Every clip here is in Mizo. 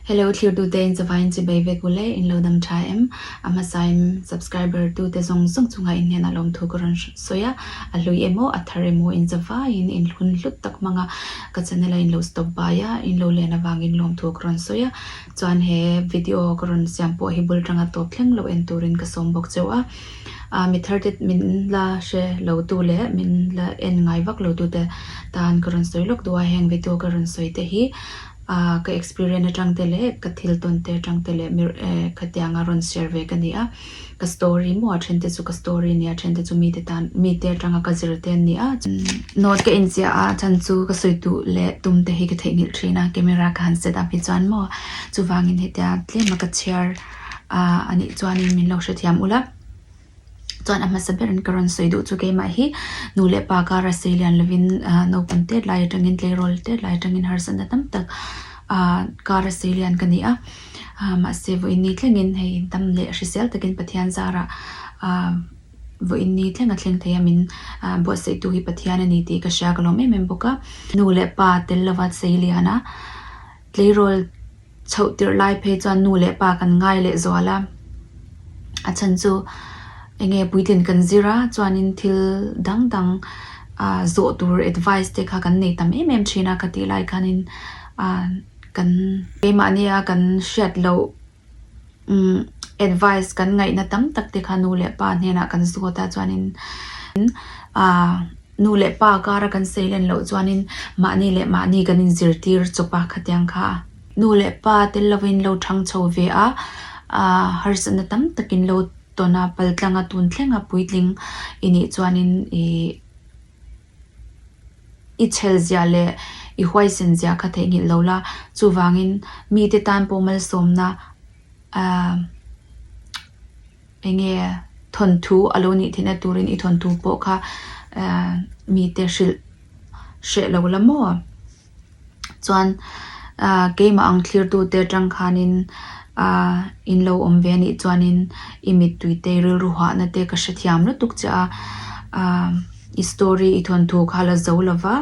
Hello thlirtu te in chavain chi bei vek u le in lo dam tha em a hmasa em subscriber tu te zawng zawng chunga in hnen a lawm thu ka rawn sawi a a hlui emaw a thar emaw in chavai in in hlun hlut tak hmang a ka channel a in lo stop bai a in lo len avang in lawm thu ka rawn sawi a chuan he video ka rawn siam pawh hi bul tanga tawp thleng lo en tur in ka sawm bawk cheu a. Aa mi thar te min la hre lo tu leh min la en ngai vak lo tu te tan ka rawn sawi lawk deuh a, heng video ka rawn sawi te hi aa ka experience atang te leh ka thil tawn te atang te leh mi ee khatianga rawn share ve ka ni a, ka story maw a then te chu ka story a ni a, a then te chu mite tan mite atanga ka zir te an ni a chuan note ka inziah a chhan chu ka sawi duh leh tum te hi ka theihnghilh thin a camera ka han set up hi chuan maw chuvangin hetia tlema ka chhiar. ahh a nih chuan min lo hre thiam ula chuan a hmasa ber in ka rawn sawi duh chu keimah hi nu leh pa kara sawi lian lovin ahh naupang tlet lai atangin tleirawl tlet lai atangin harsa na tam tak ahh kara sawi lian ka ni a ahh mahse vawiin ni thlengin hei dam leh hrisel takin Pathian zara ahh vawiin ni thleng a thleng thei a min ahh buatsaihtu hi Pathian a ni tih ka hria ka lawm em em bawk a nu leh pa tel lova sawi liana tleirawl-- chhoh tirh lai phei chuan nu leh pa kan ngai leh zual a, a chhan chu enge puitlin kan zir a chuanin thil dang dang ahh zawh tur advice te kha kan nei tam em em thin a, ka tih lai khanin ahh kan keimahnia kan hriat loh. umm advice kan ngaihna tam tak te kha nu leh pa hnenah kan zawt a chuanin aaa nu leh pa kara kan sailen loh chuanin mahni leh mahni kan in zirtir chawpa khatiang kha nu leh pa tel lovin lo thang chho ve a aaa harsatna tam takin lo tawn a paltlanga tun thlenga puitling i nih chuanin ihh. I chhel ziah leh i huaisen ziah kha theihnghilh lo la, chuvangin mite tan pawh malsawmna eng nge thawnthu a lo nih theihna turin i thawnthu pawh kha mite hrilh hreh lo la maw? chuan ahh keimah ang thlirtu te atang khanin ahh in lo awm ve anih chuanin i mittui te i rilru huahna te ka hrethiam lutuk chiah a ahh i story i thawnthu kha a la zo lo va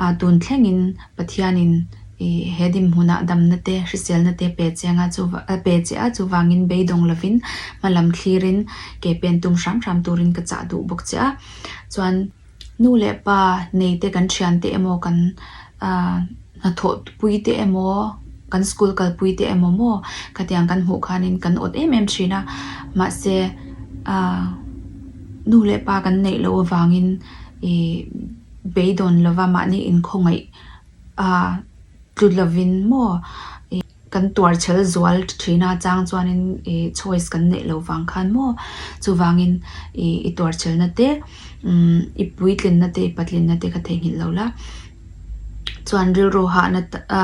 ahh tun thlengin pathianin i he hnim hunah damna te hriselna te pe che anga ahh pe che a chuvangin beidawng lovin hmalam thlirin ke pen tum hram hram turin ka chah duh bawk chiah a chuan. Nu leh pa nei te kan thian te emaw kan hnathawh pui te emaw kan school kal pui te emaw maw khatiang kan hmuh khanin kan awt em em thin a mahse nu leh pa kan neih loh avangin ih beidawn lova mahni inkhawngaih tlu lovin maw ih-- Kan tuar chhel zual thin a chang chuanin i choice kan neih lo vang khan maw chuvangin i i tuar chhelna te umm i puitlinna te i patlinna te ka theihnghilh lo la chuan rilru hahna a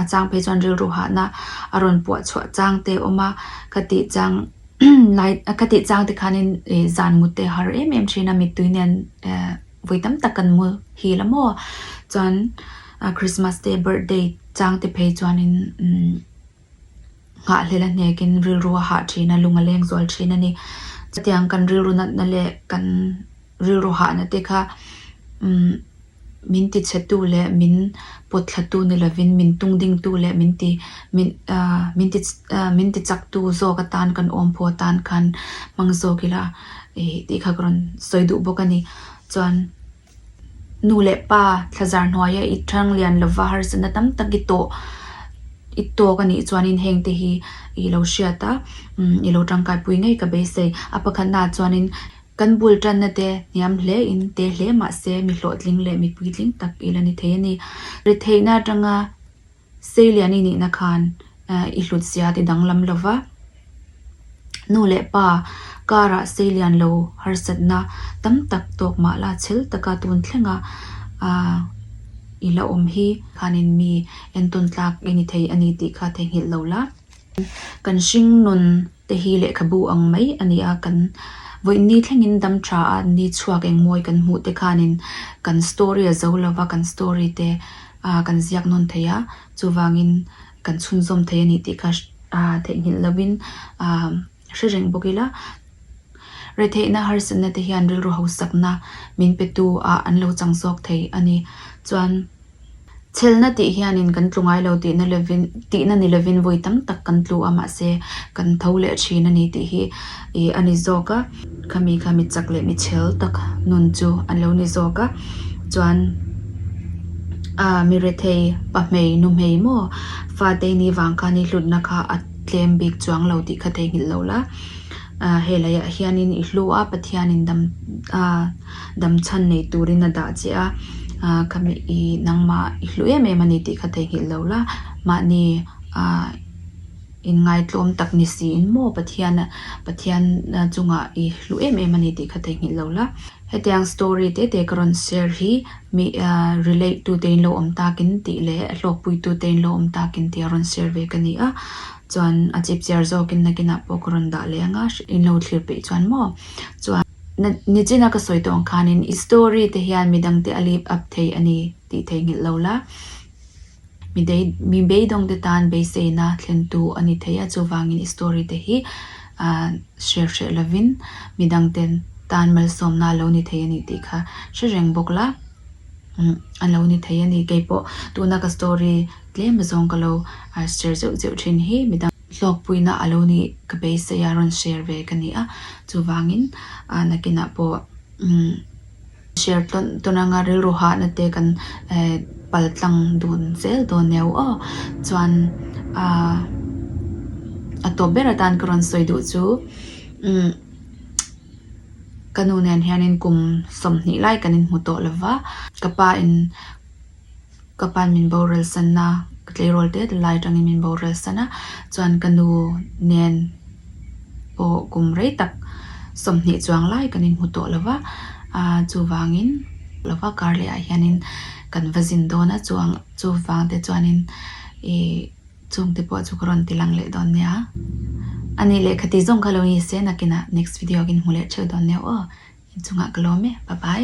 a chang phei chuan rilru hahna a rawn puah chhuah chang te awm a ka tih chang lai ka tih chang te khanin i zan mute a har em em thin a mittui nen ehh. vawi tam tak kan mu hil a maw chuan christmas te birthday chang te phei chuan in nghah hlela hnek in rilru a hah thin a lung a leng zual thin a ni chutiang kan rilru nat na leh kan rilru hah na te kha min ti chhe tu leh min pawt thla tu ni lo in min tung ding tu leh min ti min ti chak tu zawk atan kan awm pawh atan khan hmang zawk ila. ih tih kha ka rawn sawi duh bawk a ni. Chuan nu leh pa thlazar hnuaia i ṭhang lian lova harsatna tam tak i tawh i tawk a nih chuanin heng te hi i lo hriat a, umm i lo ṭangkaipui ngei ka beisei. A pakhatnaah chuanin kan bul ṭanna te hniam hle in te hle mahse mi hlawhtling leh mi puitling tak i la ni thei a ni. Ri theihna aṭanga. Seilian i nihna khan i hlut ziat i danglam lo va. Nu leh pa karah Seilian lo harsatna tam tak tawk mah la chhel taka tun thlenga i la awm hi khanin mi entawntlak i ni thei a ni tih kha theihnghilh lo la. Kan hring nun te hi lehkhabu ang mai a ni a, kan vawi ni thlengin dam tha a ni chhuak engmawi kan hmuh te khanin kan story a zo lova, kan story te kan ziak nawn thei a, chuvangin kan chhunzawm thei a ni tih kha theihnghilh lovin. hre reng bawk ila, retheihna harsatna te hian rilru hausakna min petu ah an lo chang zawk thei a ni. Chuan chelna tih hianin kan tlu ngai lo tihna lovin tihna ni lovin vawi tam tak kan tlu a mahse kan tho leh thin a ni tih hi ih a ni zawk a. Khami kha mi chak leh mi chhel tak nun chu an lo ni zawk a, chuan ah mi rethei pa hmei nu hmei maw fate ni vang khan i hlutna kha a. tlem bik chuang lo tih kha theihnghilh loh la, he laiah hianin i hlu a, Pathianin dam a dam chhan nei turin a dah che a, khami i nangmah i hlu em em a ni tih kha theihnghilh loh la, mahni inngaitluam tak ni siin maw Pathian Pathian chungah i hlu em em a ni tih kha theihnghilh loh la. Hetiang story tete ka rawn share hi mi relate tu tein lo awm takin tih leh hlawkpui tu tein lo awm takin tia rawn share ve ka ni a, chuan a chip chiar zawkin nakinah pawh ka rawn dah leh anga in lo thlir peih chuan maw chuan na nichina ka sawi tawng khanin i story te hian midangte a live up thei a ni tih thei nghilh lo la. mi beidawng te tan beiseina thlentu a ni thei a, chuvangin i story te hi hriat hreh lovin mi dang te tan malsawmna a lo ni thei a nih tih kha hre reng bawk la, a lo ni thei a ni. Kei pawh tuna ka story tlema zawng ka lo share zeuh zeuh thin hi mi dang hlawkpuina a lo ni ka beiseia rawn share ve ka ni a, chuvangin nakinah pawh. Share tawn tawn anga rilru hahna te kan pal tlang dun zel dawn nia u aw. Chuan a tawp ber atan ka rawn sawi duh chu ka nu nen hianin kum sawm hnih lai kan inhmu tawh lova ka pa in. Ka pan min boral sanna, ka tleirawl te ta lai atangin min boral san a, chuan ka nu nen pawh kum rei tak sawmhnih chuang lai kan inhmu tawh lo va, aaa chuvangin lo va kar leh ah hianin kan va zin dawn a, chuang chuvang te chuanin ih chung te pawh chu ka rawn ti lang leh dawn nia, a nih leh kha ti zawng kha lo ni se, nakinah next video ah ka inhmu leh theuh dawn neuh aw, inchungah ka lawm e, pa pai.